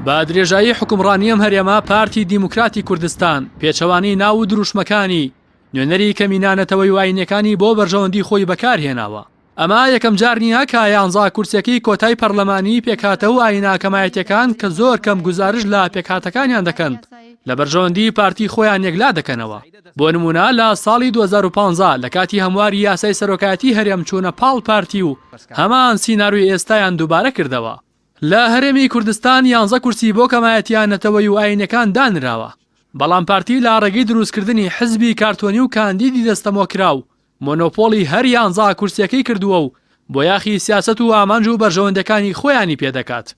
بە درێژایی حکومڕانی ئەم هەرێما پارتی دیموکراتی کوردستان پێچەوانەی ناو و دروشمەکانی نوێنەری کەمینانەتەوەی واینەکانی بۆ بەرژەوەندی خۆی بەکارهێناوە ئەمە یەکەم جار نییە کە یانزا کورسەکەی کۆتای پەرلەمانی پێکهاتە و ئایناکەمایەتەکان کە زۆر کەم گزارش لە پێکهاتەکانیان دەکەن لە بەرژەوەندی پارتی خۆیان یەکلا دەکەنەوە بۆ نموونە لە ساڵی دوو هەزار و پازدە لە کاتی هەمواری یاسای سەرۆکایەتی هەرێم چوونە پاڵ پارتی و هەمان سیناروی ئێستایان دووبارە کردەوە. لە هەرێمی کوردستان یانزە کورسی بۆ کەمایەتییە نەتەوەیی و ئایینیەکان دانراوە، بەڵام پارتی لە ڕێگەی دروستکردنی حزبی کارتۆنی و کاندیدی دەستەمۆکراو، مۆنۆپۆڵی هەر یانزا کورسیەکەی کردووە و بۆیاخی سیاسەت و ئامانج و بەرژەوەندەکانی خۆیانی پێ دەکات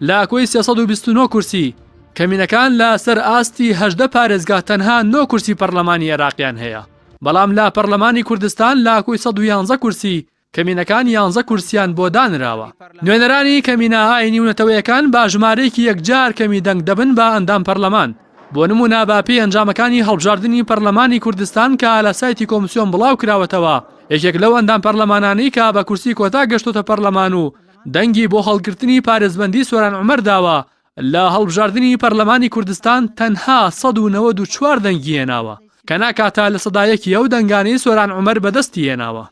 لە کۆی سێ سەد و بیست و نۆ کورسی کەمینەکان لە سەر ئاستی هەژدە پارێزگا تەنها نۆ کورسی پەڕلەمانی ئێراقیان هەیە بەڵام لە پەڕلەمانی کوردستان لە کۆی سەد و یانزە کورسی کەمینەکان یانزە کورسیان بۆ دانراوە نوێنەرانی کەمینە ئاینی و نەتەوەیەکان با ژمارەیەکی یەکجار کەمی دەنگ دەبن بە ئەندام پەڕلەمان. بۆ نموونە بە پێی ئەنجامەکانی هەڵبژاردنی پەرلەمانی کوردستان کە لە سایتی کۆمسیۆن بڵاو کراوەتەوە، یەکێک لەو ئەندام پەرلەمانانەی کە بە کورسی کۆتا گەشتۆتە پەرلەمان و دەنگی بۆ هەڵگرتنی پارێزبەندی سۆران عومەر داوە، لە هەڵبژاردنی پەرلەمانی کوردستان تەنها سەد و نەوەد و چوار دەنگی هێناوە، کە ناکاتە لە سەدا یەکی ئەو دەنگانەی سۆران عومەر بەدەستی هێناوە.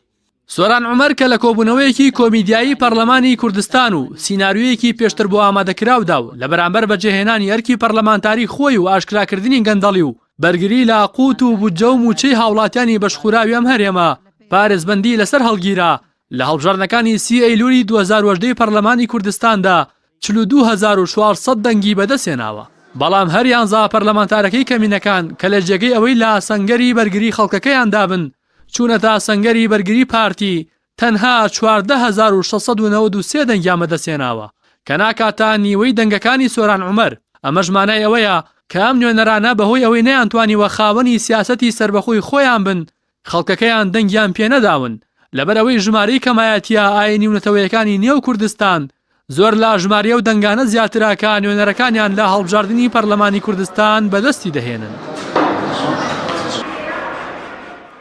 سۆران عومەر کە لە کۆبوونەوەیەکی کۆمیدیایی پەرلەمانی کوردستان و سیناریۆیەکی پێشتر بۆ ئامادەکراودا و لە بەرامبەر بەجێهێنانی ئەرکی پەرلەمانتاری خۆی و ئاشکراکردنی گەندەڵی و بەرگری لە قووت و بودجە و مووچەی هاوڵاتیانی بەشخوراوی ئەم هەرێمە پارێزبەندی لەسەر هەڵگیرا لە هەڵبژاردنەکانی سی ئەیلولی دوو هەزار و هەژدە ی پەرلەمانی کوردستاندا چل و دوو هەزار و چوار سەد دەنگی بەدەستهێناوە. بەڵام هەر یانزە پەرلەمانتارەکەی کەمینەکان کە لە جێگەی ئەوەی لە سەنگەری بەرگری خەڵکەکەیاندابن، چوونەتە سەنگەری بەرگری پارتی تەنها چواردە هەزار و شەش سەد و نەوەد و سێ دەنگیان بەدەستهێناوە کە ناکاتە نیوەی دەنگەکانی سۆران عومەر، ئەمەش مانای ئەوەیە کە ئەم نوێنەرانە بەهۆی ئەوەی نەیانتوانیوە خاوەنی سیاسەتی سەربەخۆی خۆیان بن خەڵکەکەیان دەنگیان پێنەداون لەبەرئەوەی ژمارەی کەمایەتیە ئاینی و نەتەوەیەکانی نێو کوردستان زۆر لە ژماری ئەو دەنگانە زیاترە کە نوێنەرەکانیان لە هەڵبژاردنی پەرلەمانی کوردستان بەدەستی دەهێنن.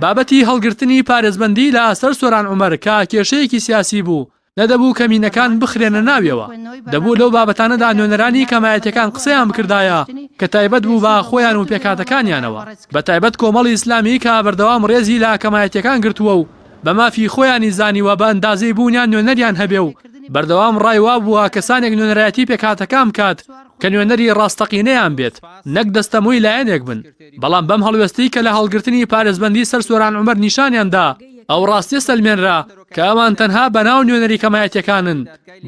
بابەتی هەڵگرتنی پارێزبەندی لە سەر سۆران عومەر کە کێشەیەکی سیاسی بوو، نەدەبوو کەمینەکان بخرێنە ناویەوە، دەبوو لەو بابەتانەدا نوێنەرانی کەمایەتیەکان قسەیان بکردایە کە تایبەت بوو بە خۆیان و پێکهاتەکانیانەوە، بەتایبەت کۆمەڵی ئیسلامی کە بەردەوام ڕێزی لە کەمایەتیەکان گرتووە و بە مافی خۆیانی زانیوە بە ئەندازەی بوونیان نوێنەریان هەبێ و بەردەوام ڕای وا بووە کەسانێک نوێنەرایەتی پێکهاتەکان بکات کە نوێنەری ڕاستەقینەیان بێت نەک دەستەمۆی لایەنێک بن، بەڵام بەم هەڵوێستەی کە لە هەڵگرتنی پارێزبەندی سەر سۆران عومەر نیشانیان دا ئەو ڕاستیە سەلمێنرا کە ئەوان تەنها بە ناو نوێنەری کەمایەتیەکانن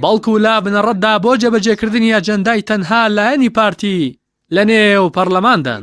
بەڵکو لە بنەڕەتدا بۆ جێبەجێکردنی ئەجەندای تەنها لایەنی پارتی لە نێو پەڕلەماندان.